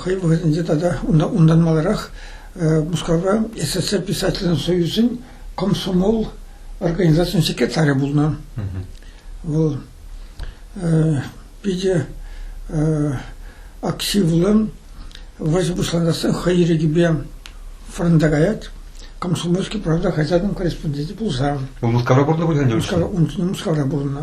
хӑй вӑхӑтӗнче тата унтан маларах Мускавра СССР писательсен союзӗн комсомол организацийӗн секретарӗ пулнӑ. Вӑл питӗ активлӑн вӑрҫӑ пуҫланассан хӑй ирӗкӗпе фронта каять. Комсомольский правда хаҫатӑн корреспонденчӗ пулса. Вӑл Мускавра пурӑннӑ пуль, Мускавра, Мускавра пурӑннӑ.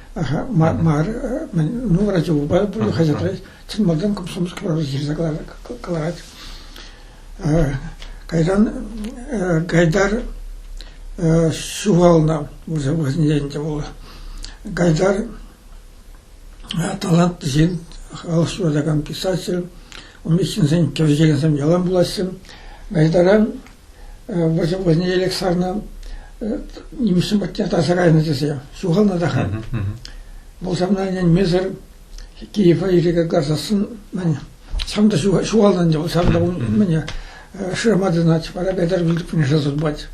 мар ну врачупа хаҫатра чӑн малтан комсомольски правда ҫырса кӑларать кайран гайдар ҫухалнӑ вырса вӑхӑтӗнче ӗнтӗ вӑл гайдар талантлӑ ҫын халӑх ҫуратакан писатель умри ҫынсен кӗвӗҫекенсем ялан пулаҫҫӗ гайдара вӑйне элек сарнӑ, нимӗҫсем патне тасарайнӑ тесе ҫухалнӑ та ха. Пулсамна ӗненмесӗр Киева ирӗке касассӑн ҫав та ҫухалнӑ ӗнтӗ, ҫав та мӗне шырама тытӑнать, вара Айдар вилтӗпленеше сутпать.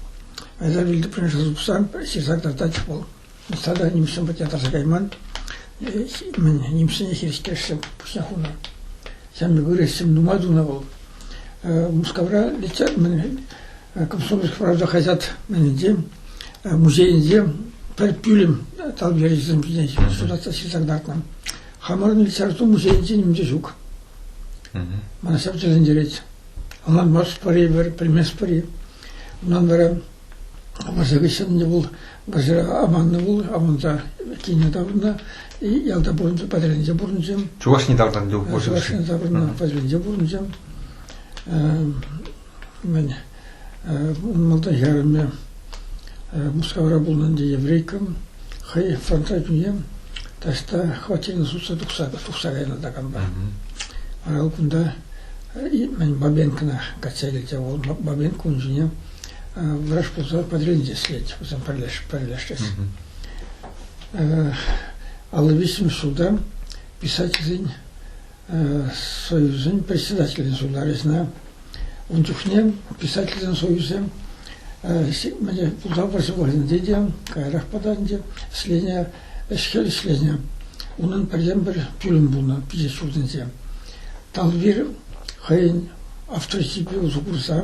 Айдар вилтӗпленеше сутса ҫырса картать вӑл. Ӑста та нимӗҫсем патне тарса кайман. Мӗн нимӗҫсене хирӗҫтерсе пуҫне хунӑ. Ҫавна ырӑ сӗм нумай тунӑ вӑл. Мускавра летят, мӗн Комсомольск правда хаҫат мӗнӗнче музейӗнче пӗр пӳлӗм талӑп ячӗсем ҫине суратса ҫырса кӑтартнӑ. Хамӑрӑн литература музейӗнче ним те ҫук. Мана ҫав тери интересет. Ӑнланмастпӑр-и пӗр, пӗлместпӗр-и? Унтан вара Вӑрҫӑ хыҫҫӑн ӗнтӗ вӑл вӑрҫӑра аманнӑ пул, аманса кине таврӑннӑ. Ялта пурӑнчӗ, патӑрьелӗнче пурӑнчӗ. Чувашине таврӑннӑ вӑл вӑрҫӑ хыҫҫӑн. Чувашине таврӑннӑ, патӑрьелӗнче пурӑнчӗ. Мӗн, малтан хӗрарӑмӗ Мускавра пулнӑ ӗнтӗ, еврейкӑм. Хӑй фронтра чӳне таҫта хваттерне сутса тухса кайнӑ такампа. Вара кунта мӗн Бабенкӑна качча килчӗ вӑл. Бабенко ун ҫине врач пулса подредитель слет пулсан пӗрлешес. Алла виҫҫӗмӗш ҫулта писательсен союзӗн председателӗн ҫулта речна. Ун чухне писательсен союзӗ міне пулса вӑрҫӑ вӑхӑтӗнче те каярах пытанчӗ ӗҫленӗ ӗҫ-хӗл ӗҫленӗ. Унӑн пӗртен-пӗр пӳлӗм пулнӑ пичет ҫуртӗнче. Талвир хӑйӗн авторитетпе усӑ курса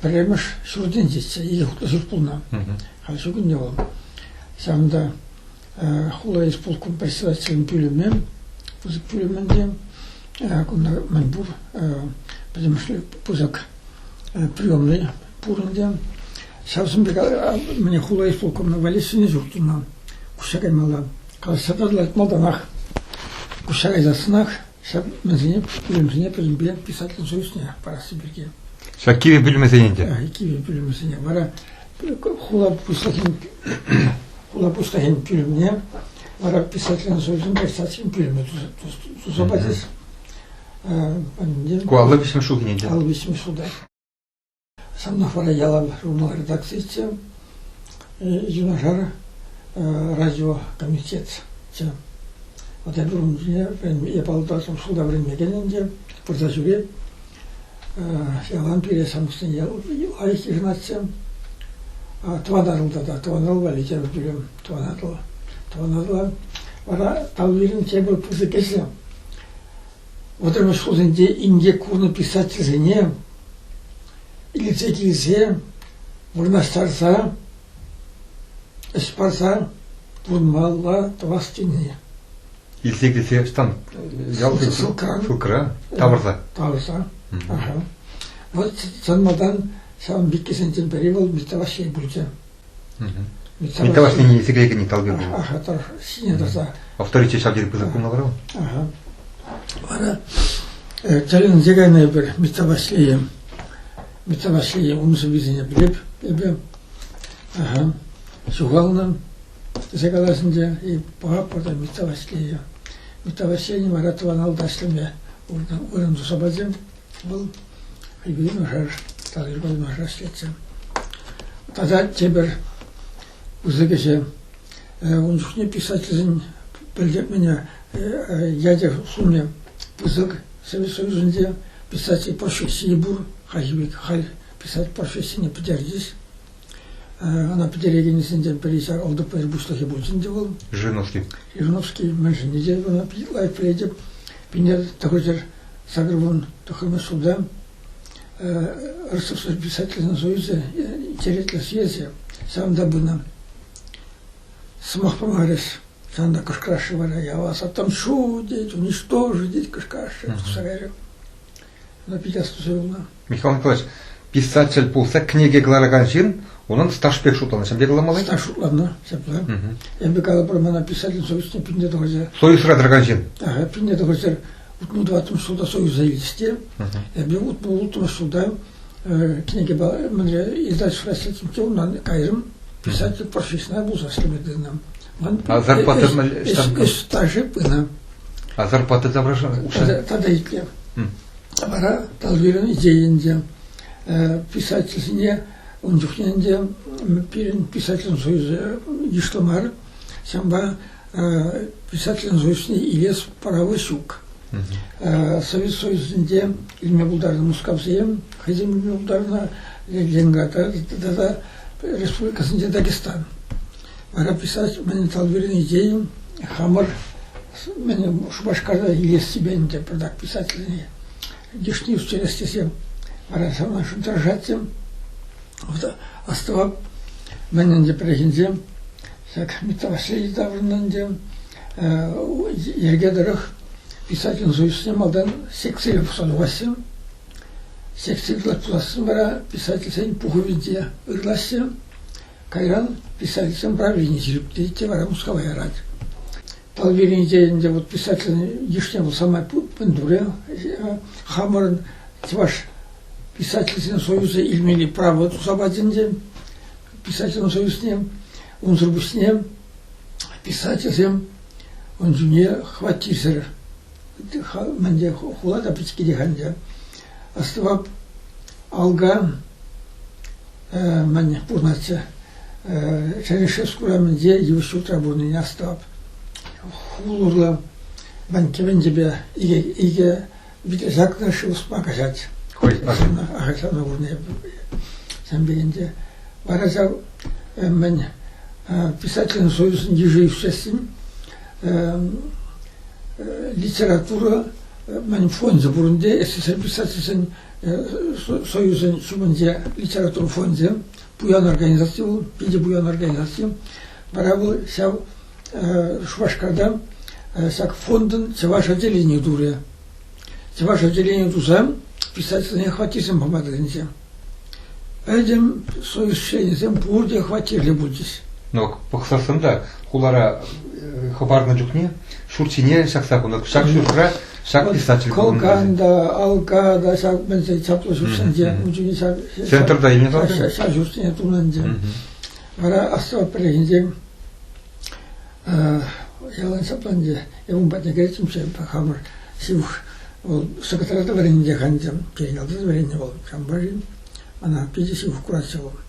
Пӗрремӗш ҫуртӗнчеччӗ, икӗ хутлӑ ҫурт пулнӑ. Халь ҫук ӗнтӗ вӑл. Ҫавӑнта хула исполком председателӗн пӳлӗмӗ, пысӑк пӳлӗм ӗнтӗ. Кунта мӗн пур пӗтӗмӗшле пысӑк приемнӑй пур ӗнтӗ. Ҫавсем пек мӗне хула исполкомне валессине ҫурт тунӑ. Куҫа каймалла. Калаҫса тӑрӑлать малтанах. Куҫа кайсассӑнах Ҫак пӳлӗмсене пӗриншӗне пӗринпе писатель союзне парасси пирки. Ҫак кивӗ пӳлӗмӗсен ӗнтӗ? Кивӗ пӳлӗмӗсене. Вара хула пуҫлӑхӗн хула пуҫлӑхӗн пӳлӗмне вара писательсен союзӗн писательсен пӳлӗмӗ туса пачӗҫ. Ку аллӑ виҫмӗш ҫул ӗнтӗ. Аллӑ виҫмӗш ҫулта. Санов вара ялан журнал редакцийӗччӗ, юнашар радиокомитетчӗ. Вот я дуром жизни я полтавском школе вӗренмекен ӗнтӗ, пырса ҫӳре. Ялан пире самсне лайӑх йышӑнатчӗ. Тӑван Атӑлта та, тӑван Атӑл валли тепӗр пӳлӗм, тӑван Атӑл. Тӑван Атӑла вара Тавлирин тепӗр пысӑк ӗҫлӗ Вӑтӑрмӗш хусенче инкек курнӑ писательсене илсе килсе вырнаҫтарса ӗҫ парса пурӑнмалла тӑвас тени. Илсе килсе ӑҫтан? Ялти ссылка. Ссылкӑра? Тавӑрса. Тавӑрса. Вӑл сӑнмасан ҫавӑн пеккисенчен пӗри вӑл Митта Ваҫҫей пулчӗ. Николас нине сикре кӗни талпи пулнӑ. Аха, тӑр, ҫине тӑрса. Авторитет ҫав тери пысӑк пулнӑ вара. Аха. Вара тӗлӗнсе кайнӑ эпир Митта Ваҫлейе. Митта Ваҫлейе умсӑр висене пӗлеп эпӗ. Аха. Ҫухалнӑ тесе каласынче и папа та Митта Ваҫлейе. Митта Ваҫлейне вара тӑван алдашлеме вырӑн туса пачӗ. Вӑл юнашар, талӑрпа юнашарах ӗҫлетчӗ. Тата тепӗр пысӑк ӗҫе, ун чухне писательсен пӗлтерменӗ Ядев сумӗ пысӑк. Совет Союзӗнче писатель профессийӗ пур, халь писатель профессине пӗтерчӗҫ. Ӑна пӗтерекенӗсенчен пӗри ҫар ОДПР пуҫлӑхӗ пулчӗ ӗнтӗ вӑл. Жириновский. Жириновский мӗншӗн тесе ӑна питӗ лайӑх пӗлетӗп. Пинер тӑхӑрҫӗр сакӑрвун тӑххӑрмӗш ҫулта Ростовский писательсен союзӗ интереслӗ съезӗ ҫавӑнта пынӑ. Сӑмах памарӗҫ. Ҫавӑнта кӑшкӑраҫҫӗ вара, я вас отомщу, дети, уничтожу, дети, кӑшкӑраҫҫӗ в сарае. Михаил Николаевич, писатель пулса кӗнеке кӑларакан ҫын унӑн стаж пек шутланӑ. Ҫын пек Стаж шутланнӑ, ҫапла. Эпӗ калӑпӑр, мана писатель совесне пинне тӑхӑрҫа. Союзра тӑракан ҫын. Да, пинне тӑхӑрҫар утну тӑваттӑмш ҫулта союза илчӗҫ те. Эпӗ утну улттӑмш ҫулта кӗнекепе мӗнле издательство расчетӗмче унан кайрӑм писатель профессионал пулса ӗҫлеме тытӑнам. Ман зарплата мӗн? Ӗҫ стажӗ пынӑ. Зарплата таврашла укҫа? Тата итлев. Вара Талвирӑн идейинче, писательсене ун чухне ӗнтӗ пирӗн писательсен союзӗ йышлӑ мар. Ҫавӑнпа писательсен союзне илес право ҫук. Совет Союзӗнче илме пултарнӑ Мускавсем хӑйсем илме пултарнӑ Ленинграда тата республикасенче Дагестан. Вара писатель мӗн талпирнӑ идейӑм хамӑр мӗн Шупашкарта илессипе ӗнтӗ пӗртак писательне йышне ӳстерес тесе вара санашӑн тӑрӑшаттӑм. Астӑвап, мӗн ӗнтӗ пӗррехинче ҫак Митта Васильевич таврӑннӑ ӗнтӗ йӗрке тӑрӑх писательн союзне малтан секцие пухса тухассем. Секцие пулассем вара писательсен пухӑвӗнче ырлаҫҫӗ. Кайран писательсен правленине ҫирӗплетет те вара Мускава ярать. Талбиринче ӗнтӗ вот писательсен йышне вӑл самай мӗн турӗ. Хамӑрӑн чӑваш писательсен союзӗ илмелли право туса пачӗ ӗнтӗ писательсен союзне. Унсӑр пуҫне писательсем ун чухне хваттирсӗр мӗнде хула та пӗчӗккетех ӗнтӗ. Астӑвап, алга мӗн пурӑнатчӗ Черешевск урамӗнче йывӑҫ ҫуртра пурӑннине астӑвап. Хул урлӑ мӗн кӗвенчепе икӗ, икӗ витресакна шывӑспа каҫать. Хӑй асӑннӑ ахӑртанла курнӑ сан пекенте. Вара ҫав мӗн писательсен союзӗн йышӗ ӳсессин литература мӗн фончӗ пурӑнде СССР писательсен Союзӗн шумӗнче литература фончӗ, пуян организаци вӑл, питӗ пуян организаци. Вара вӑл ҫав Шупашкарта ҫак фондӑн чӑваш отделени турӗ. Чӑваш отделени туса писательсене хваттерсем пама тытӑнчӗ. Пӗтӗм союз членӗсем пурте хваттерле пулчӗҫ. Ну, пӑхсассӑн та хулара хӑпарнӑ чухне ҫурт ҫине ҫакса хунӑ. Ҫак ҫуртра Ҫакӑн диспетчер Кокан та, Алка та ҫак мӗнсен чаплӑ ҫуртсенче, ун чухне ҫав... Центрта илнӗ тата? Ҫав ҫуртсене тунӑ Вара асфальт пӗррехинче ялан ҫапланчӗ. Я ун патне кайричченше хамӑр ҫывӑх Вӑл секретарята вӗреннӗ ханча, чейналта вӗреннӗ вӑл, Чамбарин. Она питӗ ҫывӑх курасчӗ вӑл.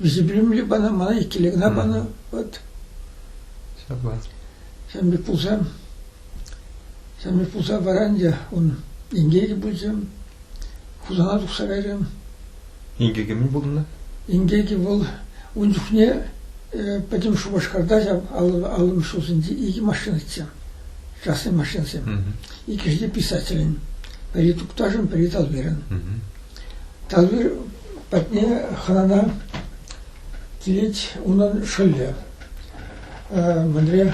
Вӗсем пана, мана иккӗлле кӑна панӑ. Вот. Ҫапла. Ҫавӑн пек пулса, ҫавӑн пек пулса вара ӗнтӗ ун инкекӗ те пулчӗ. Хусана тухса кайрӗ. Инкекӗ мӗн пулнӑ? Инкекӗ вӑл ун чухне пӗтӗм Шупашкарта ҫав аллӑмӗш ҫулсенче икӗ машина итсе. Частный машинӑсем. Иккӗшӗ те писателӗн. Пӗри Тукташӑн, пӗри Талвирӑн. Тавир патне хӑнана килет унӑн шӑллӗ. Мӗнре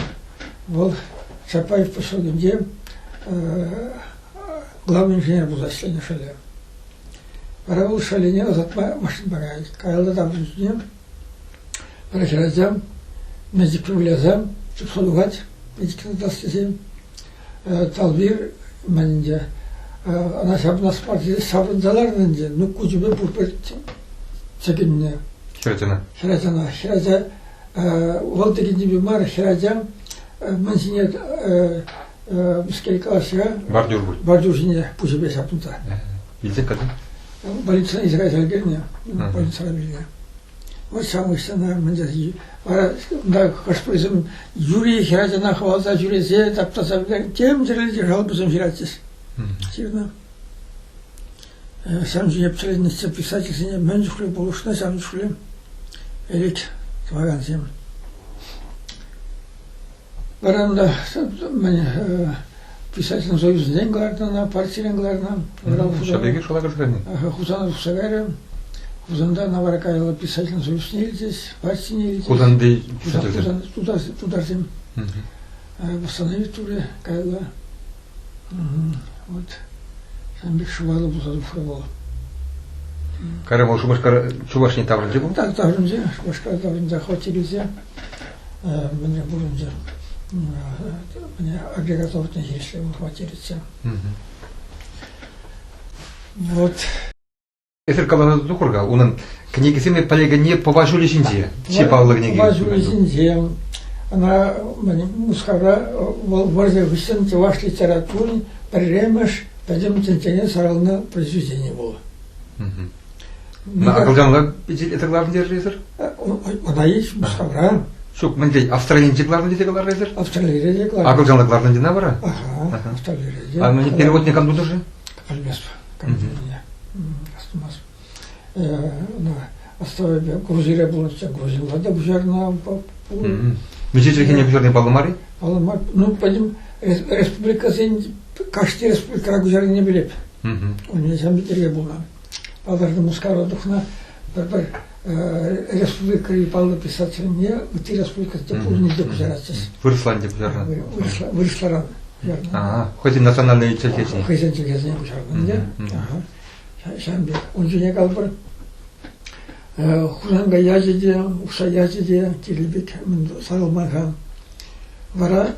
вӑл Чапаев поселокӗнче главный инженер пулса ӗҫленӗ шӑллӗ. Вара вӑл шӑллӗне ӑсатма машина парать. Каялла тав тусне вара хӗрача медик профиля аса чупса тухать медикина тас тесе. Талвир мӗн ӗнтӗ, ӑна ҫапла Спартике ҫаврӑнса ларнӑ ӗнтӗ, ну куҫӗпе пурпӗр чӗкӗннӗ. Хӗрачана. Хӗрачана. Хӗрача вӑл текеннипе мар, хӗрача мӗн ҫине мӗскер калаҫса бордюр пуль бордюр ҫине пуҫӗпе ҫапӑнса. Илсе кайсан? Больницӑна илсе кайса ӗлкӗрнӗ, больницӑра вилнӗ. Вӑт ҫавӑнӑҫсӑр вара кунта хӑш-пӗрисем юри хӗрачана хӑваласа ҫӳресе таптаса тем тӗрлӗ жалобӑсем ҫыратчӗҫ. Ҫырнӑ. Ҫавӑн ҫине писательница писательсене мӗн чухлӗ пулӑшнӑ, ҫавӑн чухлӗ элит тӑвакансем. Вӑрамра мӗн писательсен союзӗнчен кӑларнӑ ӑна, партирен кӑларнӑ. Ҫав пекех шала кӗрсе кайнӑ. Хусан тухса кайрӗ. Хусанта Навара каялла писательсен союзне илчӗҫ, партине илчӗҫ. Хусанти писательсем? Тутарсем. Восстановить ури каялла. Вот сан пек шӑпаллӑ пулса пулмалла. Кара вӑл Шупашкар Чувашне таврӑнчӗ кунта? Так таврӑнчӗ. Шупашкар таврӑнса хваттер илсе мӗне пурӑнчӗ. Міне агрегат ортне хирӗҫле хваттер илсе. Вот Эсир каласа тухӑр-ха, унӑн кӗнекисене пӗлекенни Пӑва ҫулӗ ҫинче. Чи паллӑ кӗнеке. Пӑва ҫулӗ ҫинче. Ӑна Мускавра вӑрҫӑ хыҫҫӑн чӑваш литературин пӗрремӗш пӗтӗм тӗнчене сарӑлнӑ произведени пулӑ. Акӑлчанла эсир кӑларнӑ тесӗр? Ӑна ич Мускавра. Ҫук, мӗн тен, Австралинче кӑларнӑ тесе каларӗ эсир? Австралире те кӑларнӑ. Акӑлчанла кӑларнӑ тена вара? Ага, Австралире те. А перевод никам тутӑр-ши? Пӗлместӗп командирне. Астумасть. Оставили Грузире пулнӑччӗ, Грузинла та пуҫарнӑ пулнӑ. Миҫе чӗлхене пуҫарни паллӑ мар-и? Паллӑ мар. Ну, пӗлим, республикасен кашни республикӑра куҫарнине билет. У меня сам бельтерге пулнӑ. Палӑртнӑ Мускава тухнӑ пӗр-пӗр Республикӑри паллӑ писательне ытти республикӑсенче пурне те куҫаратчӗҫ. Вырӑслан те куҫарнӑ. Вырӑсла, вырӑсларан куҫарнӑ. А, хӑйсен национальнӑй чӗлхесен. Хӑйсен чӗлхесен куҫарнӑ. Ҫавӑн пек. Ун ҫине калӑпӑр, Хусанкай ячӗ те, Ухсай ячӗ те, Кирлипек сарӑлман хан. Вара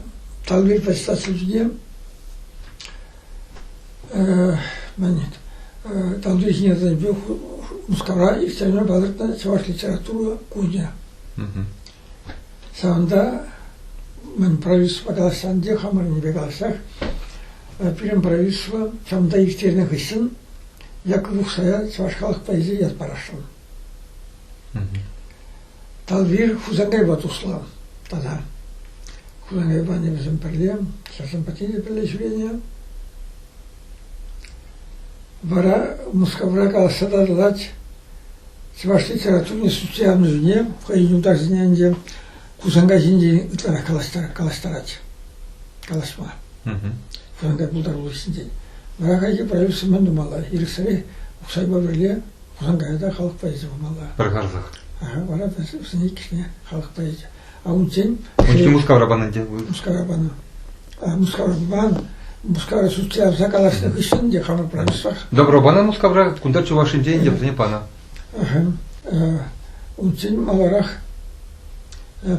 Талвир председатель ҫине Тантӑшӗсене тӗлӗнпе Мускавра Екатерина палӑртнӑ чӑваш литература кунӗ. Ҫавӑнта мӗн правительство калаҫсан те хамӑрӑннипе калаҫсах пирӗн правительство ҫавӑнта ирттернӗ хыҫҫӑн Яков Ухсая чӑваш халӑх поэзийӗ ят парасшӑн. Талвир Хусангайпа туслӑ тата. Хусангайпа анне вӗсем пӗрле, сӑрсем патне пӗрле ҫӳренӗ. Вара Мускавра калаҫса татӑлать чӑваш литературин социаллӑмӗсене хӑйӗн юлташӗсене ӗнтӗ Хусанкай ҫинчен ытларах калаҫтарать, калаҫма. Хусанкай пултарулӑх ҫинчен. Вара хайхи продюсермен тумалла. Ирӗксӗрех Ухсайпа пӗрле Анда та халӑхпа илсе пымалла. Пӗр харсах. Вара та вӗсен иккӗшне халӑхпа илсе. А унччен... Унччен Мускавра панӑ ӗнтӗ. Мускавра панӑ. Мускавран Мускавра сутларса калаҫнӑ хыҫҫӑн те хамӑр промышленноҫ. Добро панӑ Мускавра, кунта Чувашинче, Индийӗсене панӑ. Унччен маларах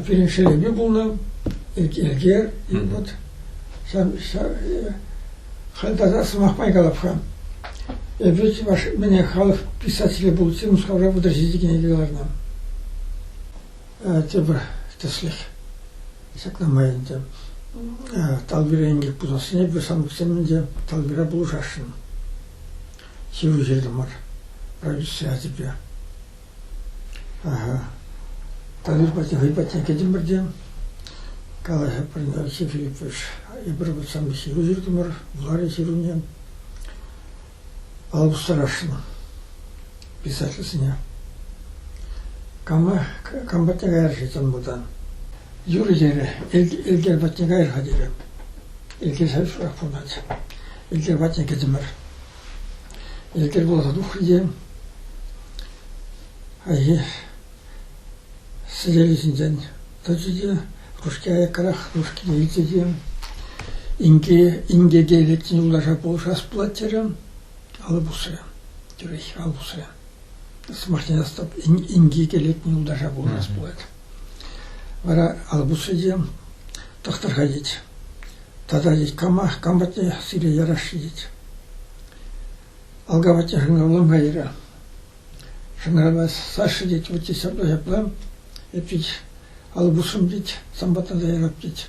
Пирӗн шелепе пулнӑ, Элкер, вот, халь тата сӑмах май калап-ха. Эпир чӑваш мене халӑх писателӗ пулчӗ, Мускавра пӑтӑрҫи текен кӗнеке кӑларнӑ. Тепӗр тӗслӗх. Ҫакна май ӗнтӗ. Талбира инкек пулсассине эпир санкцсем ӗнтӗ Талбира пулӑшасшӑн. Ҫыру ҫыртӑмӑр. Правительство ячӗпе. Талир патне, хӑй патне кӗтӗмӗр те калаҫӑпӑр, ҫыхлипӗш. Эпир вӑт сан ҫыру ҫыртӑмӑр, вуларӗ ҫыруне. Паллӑ старашина писательсене. Кама, кам патне каяр-ши тен мутан? Юрӗ терӗ, Элкер патне кайӑр-ха терӗ. Элкер шырах пулать. Элкер патне кӗтӗмӗр. Ӗлкӗр пулса тухрӗ те хайхи сӗтелӗ ҫинчен тӑчӗ те ручки аяккарах ручкине илчӗ те инке инкеке лекнӗ юлташа пулӑшас пулать терӗ. Алӑ пусрӗ. Тӳрех алӑ пусрӗ. Сӑмахне астап, инкеке лекнӗ юлташа пулӑшас пулать. Вара Алпусӗ те тӑхтӑрха тет. тата тет кама, кам патне сире ярасши тет. Алка патне шӑнкӑрланма терӗ. Шӑнкӑрава Саша тет, вот здесь ҫапла ҫапла. Эп тет, Алпусӑм тет, сам патна та ярап тет.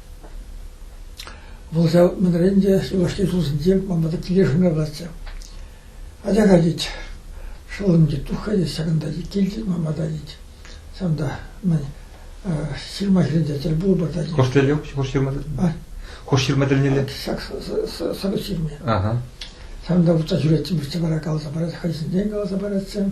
Вӑл ҫав кунран те юлашки ҫулсенче манпа та киле шӑнкӑравлатчӗ. Атя катить, шӑллӑм тет, туххӑ ҫакӑнта тет, килтет манпа та тет. Ҫавӑнта мӗн ҫырма ҫырӑнчӗ тӗлпулупа та тет. Хӑш тӗлне? Хӑш ҫырма тӗлне? Хӑш ҫырма тӗлнелле? Ҫак сӑрӑ ҫырми. Ҫавӑнта утса ҫӳреттӗм, вӗҫсе вара каласа парать, хӑй ҫинчен каласа паратчӗ.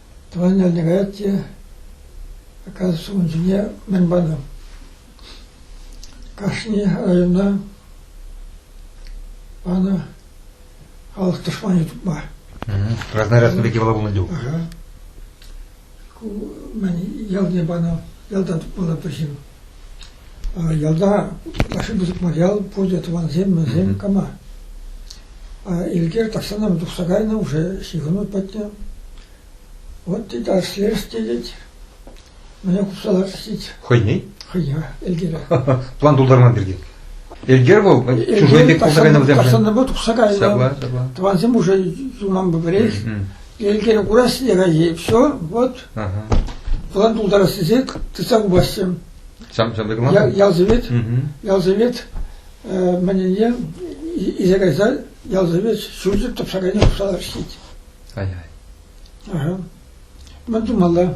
Тӑван ялне каять те аказӑш ун ҫине мӗн панӑ? Кашни районта панӑ халӑх тӑшманӗ тупма. Краснорядсем пирки пала пулнӑ тӗв. Ку мӗн ялне панӑ, ялта тупмалла пӗҫим. Ялта ытлашши пысӑк материал пурте тӑвансем, мӗнсем кама. Элкер тахҫанах тухса кайнӑ, уже ҫыхӑну пӗтнӗ. Вот тет арслерс тетет. Мӗне хупса лартс тет. Хӑйне? Хӑйне, Элкере. План тултарман пирки. Элкер вӑл чужой пек пулса кайнӑ вӗсем. Тахҫанах тухса кайнӑ. Тӑвансем уже суман пӗрех. Елкене курас текенҫи, все, вот, план тултарас тесек, тытса хупасчӗ. Ҫам ҫамрӑк план? Ялсовет, ялсовет мӗнне исе кайса ялсовет ҫурчӗ тӑпса кайни хушала ӗҫлет. Ай-ай. Мӗн тумалла?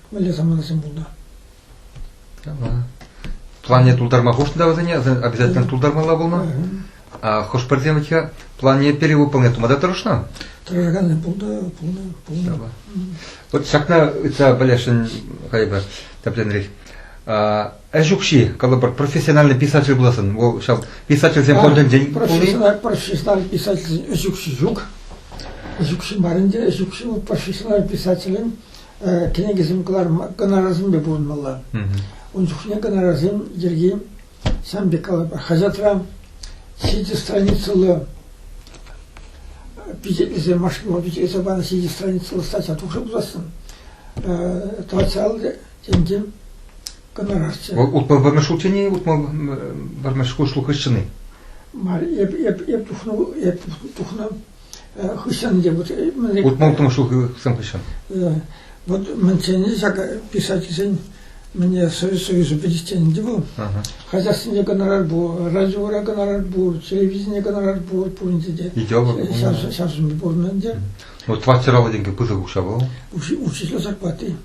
мӗнле саманасем пулнӑ? Плане тултарма хушнӑ вӗсене, обязательно тултармалла пулнӑ. Хӑш-пӗрсем вӗт-ха планне перевыполнять тума та тӑрӑшнӑ. Тӑрӑшаканни пулнӑ, пулнӑ, пулнӑ. Вот ҫакна ыйтса пӗлесшӗн хайпа тӗпленрех. Ӗҫ укҫи, калӑпӑр, профессиональный писатель пуласӑн, вӑл ҫав писательсен фондӗнчен пулни. Профессиональ писательсен ӗҫ укҫи ҫук. Ӗҫ укҫи мар ӗнтӗ, ӗҫ укҫи вӑл профессиональ писателӗн кӗнекесем кӑнарасемпе пурӑнмалла. Ун чухне кӑнарасем йӗрки сан пек калӑпӑр хаҫатра ҫичӗ страницӑллӑ пичетлесе машинӑма пичетлесе панӑ ҫичӗ страницӑллӑ статья тухса пулассын тӑватса ал тенке кӑнарасчӗ. Вӑл утма пӗрмеш утини, утма пӗрмеш шухӑшчыни. Мар, эп эп эп тухнӑ эп тухнӑ хыҫҫӑн те вот утмӑлтӑм ҫулхисем хыҫҫӑн. Вот мӗн чӗнӗ ҫак писательсен мне союзу пӗтиччен те вӑл. Хозяйственне гонорар пур, радиора гонорар пур, телевидение гонорар пур пуринте те. Сейчас сейчас пур ӗнтӗ. Ну, тратировать деньги пысӑк укҫа был. Учитель зарплаты.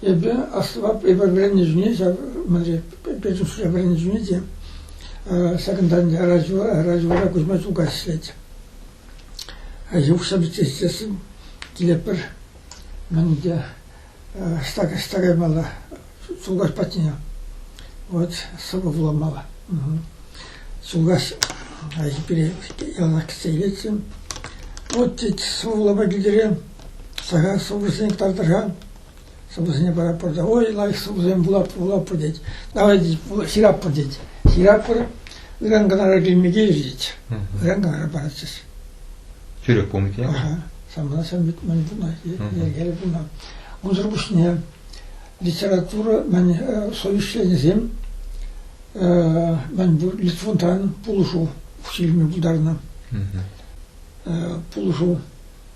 Эпӗ аслӑ вӗреннӗ чухне ҫав мӗнле педучилище вӗреннӗ чухне те ҫакӑнтан Раҫура Кузьма Чулкас ӗҫлет. Ҫукҫа пичетленсен килетпӗр. Мӗн те ӑҫта ӑҫта каймалла Чулкас патне. Вот сӑвӑ вуламалла. Чулкас пире яланах кӗтсе илетсем. Вот тет сӑвӑ вулама килтере. Сахал сӑвӑсене кӑтартар-ха. Сӑвӑсене пара пӑрта. Ой, лайӑх сӑвӑсем вулап, вулаппӑр тет. Давай, тет, ҫыратпӑр тет. Ҫыратпӑр, ыран Канара килме килӗҫ тет. Ыран Канара паратчӗҫ. Тӳрех пулмӗ Ага. Самана сӗмбит мӗн пулнӑ, йӗркеле пулнӑ. Унсӑр пуҫне литература, мӗн совещанисем, мӗн пур Литвунтан пулӑшу ҫилме пултарнӑ. Пулӑшу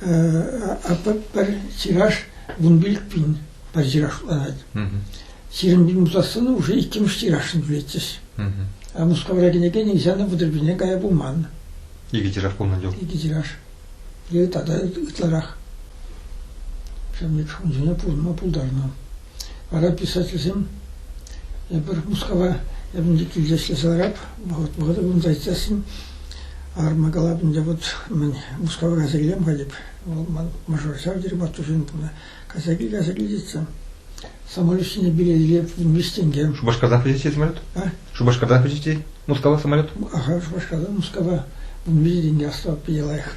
Пӗр тираж вун пилӗк пин пӗр тирашланать. Ҫирӗм пин пусассӑн уже иккӗмӗш тиражшӑн тӳлетчӗҫ. А Мускавра кӗнеке нихҫан пӑтӑрпине кая пулман. Икӗ тираж пулнӑ чух? Икӗ тираж. Е тата ытларах. Ҫавӑн пек унсене пурӑнма пултарнӑ. Вара писательсем эпир Мускава эпӗ килте ӗҫлесе ларап, вӑхӑт вӑхӑта кунта ӗҫлесен арма калапӗнче вот мӗн Мускава кайса килем халӗ вӑл ман мажор ҫав тери маттур ҫын пулнӑ кайса кил кайса кил тетсем самолет ҫине билетле виҫ тенге Шупашкартан пӗчетет самолет? А? Шупашкартан пӗчетет? Мускава самолет? Аха Шупашкартан Мускава вун виҫ тенге осталось питӗ лайӑх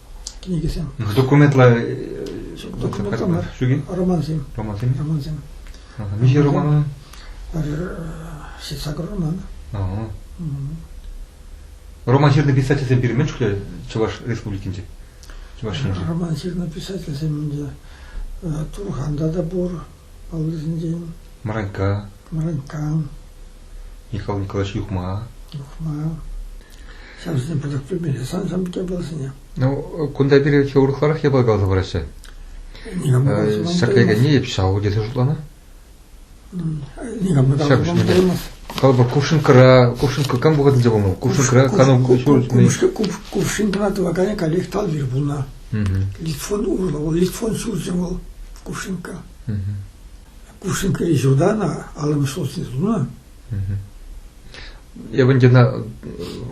кӗнекесем. Документлӑ документ ҫук-и? Романсем. Романсем. Романсем. Миҫе роман? Ҫитса роман. Роман ҫырнӑ писательсем пирӗн мӗн Чӑваш Республикинче? Чӑваш Роман ҫырнӑ писательсем ӗнтӗ Турханта та пур, Паллисенчен Мранька, Мранька, Николай Николаевич Юхма. Юхма. Ҫавсене пысӑк пӗлмелле. Сан сан те пулсене. Ну, кунта пире чи урӑхларах япала каласа параҫҫӗ. Ҫӗркке кӗнни ҫав тесе шутлана. Никам та Калӑпӑр, кувшинкӑра, кувшинка кам вӑхӑтӗнче пулнӑ? Кувшинкӑра кану... Кувшинкӑра тӑваканӗ каллех талвир пулнӑ. Литфон урлӑ, вӑл литфон ҫурчӗ вӑл, Кувшинка. Кувшинка ҫурта ӑна аллӑмӗш солнце тунӑ. Эп ӑна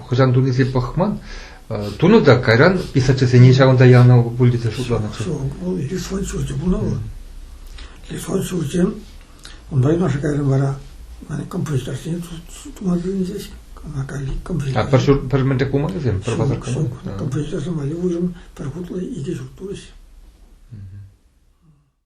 хӑҫан туниси пӑхман. Тунӑ та кайран писательсене ҫавӑнта янӑ пуль тесе шутланӑ. Вӑл литфон ҫурчӗ пулнӑ вӑл. Литфон ҫурчӗ Унта юнашар кайрӑм вара композиторсене тума килӗнчӗҫ. Натали композитор. А пӗр ҫурт пӗр мӗнле кумӑрӗсем? Пӗр пасарка мар? Композиторсем валли уйрӑм пӗр хутлӑ икӗ ҫурт пулӗҫ.